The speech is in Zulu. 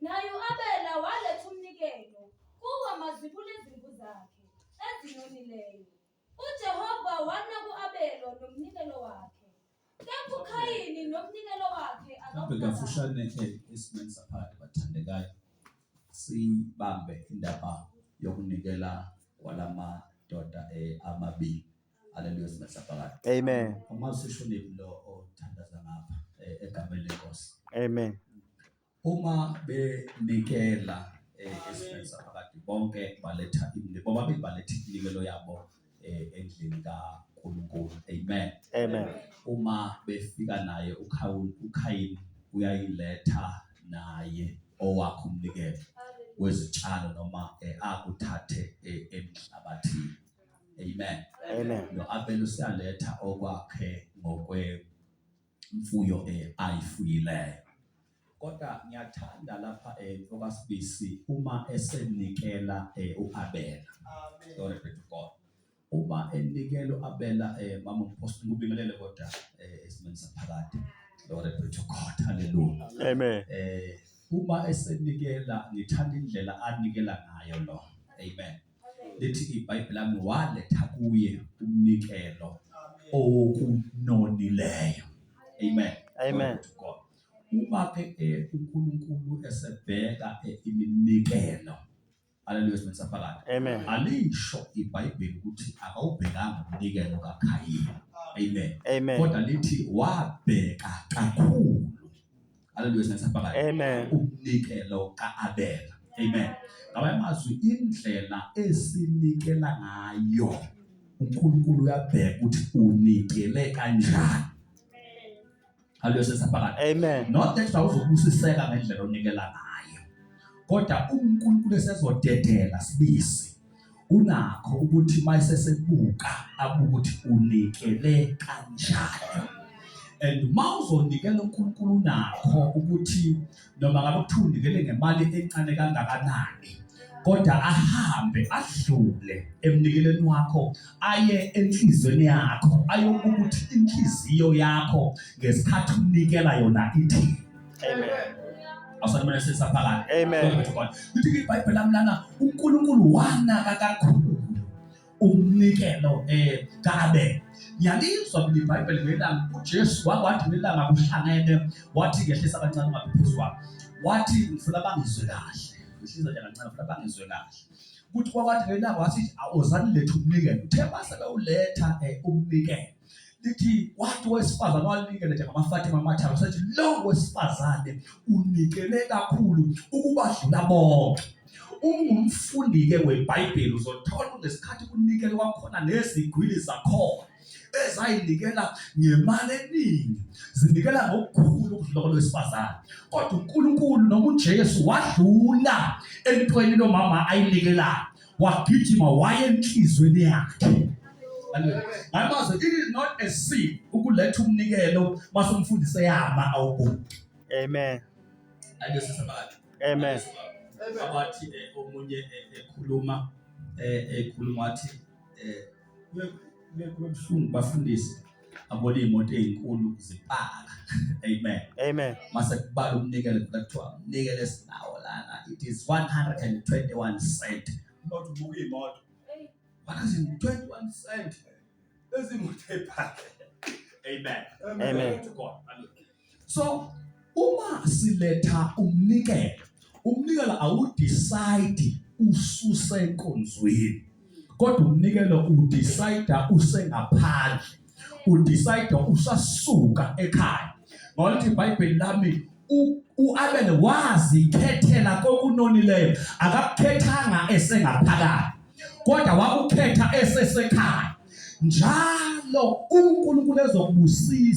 Naye u-Abela waletha umnikelo kuwo amazibulo ezimvu zakhe ezinonileyo. UJehova wanaka u-Abela nomnikelo wakhe, kepha uKhayini nomnikelo wakhe Mhlampe akakunakanga. kafushane eh, esimeni saphakade bathandekayo sibambe indaba yokunikela kwalamadoda eh, amabili aleluya esimeni saphakade Amen. uma sishonile lo othandaza ngapha eh, egameni lenkosi Amen. Uma benikela eh, esimeni saphakade bonke baletha imini bobabili baletha iminikelo yabo eh, endlini kaNkulunkulu amen Amen. uma befika naye uKhawul- ukhayini uyayiletha naye owakhe umnikelo wezitshalo noma eh, akuthathe eh, emhlabathini amen Amen. no-abel useyaletha okwakhe ngokwe imfuyo eh, ayifuyileyo kodwa ngiyathanda lapha eh, okasibisi uma esenikela eh, uAbela glory be to God uma enikela uAbela eh, mama umposti ngubingelele kodwa eh, esimeni saphakade glory be to God hallelujah amen eh uma esenikela ngithanda indlela anikela ngayo lo amen lithi ibhayibhile lami waletha kuye umnikelo okunonileyo amen amen uma ke eh, uNkulunkulu esebheka eh, iminikelo Haleluya sibe saphakade. Amen. Alisho iBhayibheli ukuthi akawubhekanga umnikelo kaKhayini. Amen. Amen. Kodwa lithi wabheka kakhulu Haleluya sinethemba lakhe. Amen. Umnikelo kaAbela. Amen. Ngaba amazwi indlela esinikela ngayo uNkulunkulu uyabheka ukuthi unikele kanjani. Haleluya sinethemba lakhe. Amen. Not that uzokubusiseka ngendlela onikela ngayo. Kodwa uNkulunkulu esezodedela sibisi kunakho ukuthi mayisesebuka abuke ukuthi unikele kanjani and uma uzonikela uNkulunkulu unakho ukuthi noma ngabe kuthiwa unikele ngemali encane kangakanani kodwa ahambe adlule emnikeleni wakho aye enhlizweni yakho ayokuthi inhliziyo yakho ngesikhathi unikela yona ithini Amen. Awusanibona sesaphakade. Amen. Lithi iBhayibheli lami lana uNkulunkulu wanaka kakhulu umnikelo eh kabe yalizwa kule iBhayibheli ngelanga uJesu wakwathi ngelanga kuhlangene wathi ngehlisa kancane ungaphezwa wathi ngifuna bangizwe kahle ngihliza nje kancane ngifuna bangizwe kahle ukuthi kwakwathi ngelanga wathi awuzani lethu umnikelo uthe base bewuletha eh, umnikelo lithi wathi wesifazane wanikele nje ngamafatima amathathu sathi lo wesifazane unikele kakhulu ukubadlula bonke ungumfundi-ke webhayibheli uzothola ngesikhathi kunikele kwakhona nezigwili zakhona ezayinikela ngemali eningi zinikela ngokukhulu ukudlula kwalowesifazane kodwa unkulunkulu noma ujesu wadlula entweni lomama ayinikelayo wagijima wayenhlizweni yakhe ngamazo it is not a sin ukuletha umnikelo mase umfundise yama awuboni amen ake sisabathu amen abathi eh, omunye eh, ekhuluma eh, ekhuluma wathi kubuhlungu bafundisi abone imoto ezinkulu zipaka amen amen mase kubala umnikelo kuthiwa umnikelo esinawo lana it is 121 cent not ubuka imoto bana 21 cent ezimoto epaka amen amen to god amen so uma siletha umnikelo umnikelo awudecide ususe enkonzweni kodwa umnikelo udecide usengaphandle udecide usasuka ekhaya ngokuthi iBhayibheli lami uAbel wazikhethela kokunonileyo akakukhethanga esengaphakathi kodwa wakukhetha esesekhaya njalo uNkulunkulu ezokubusisa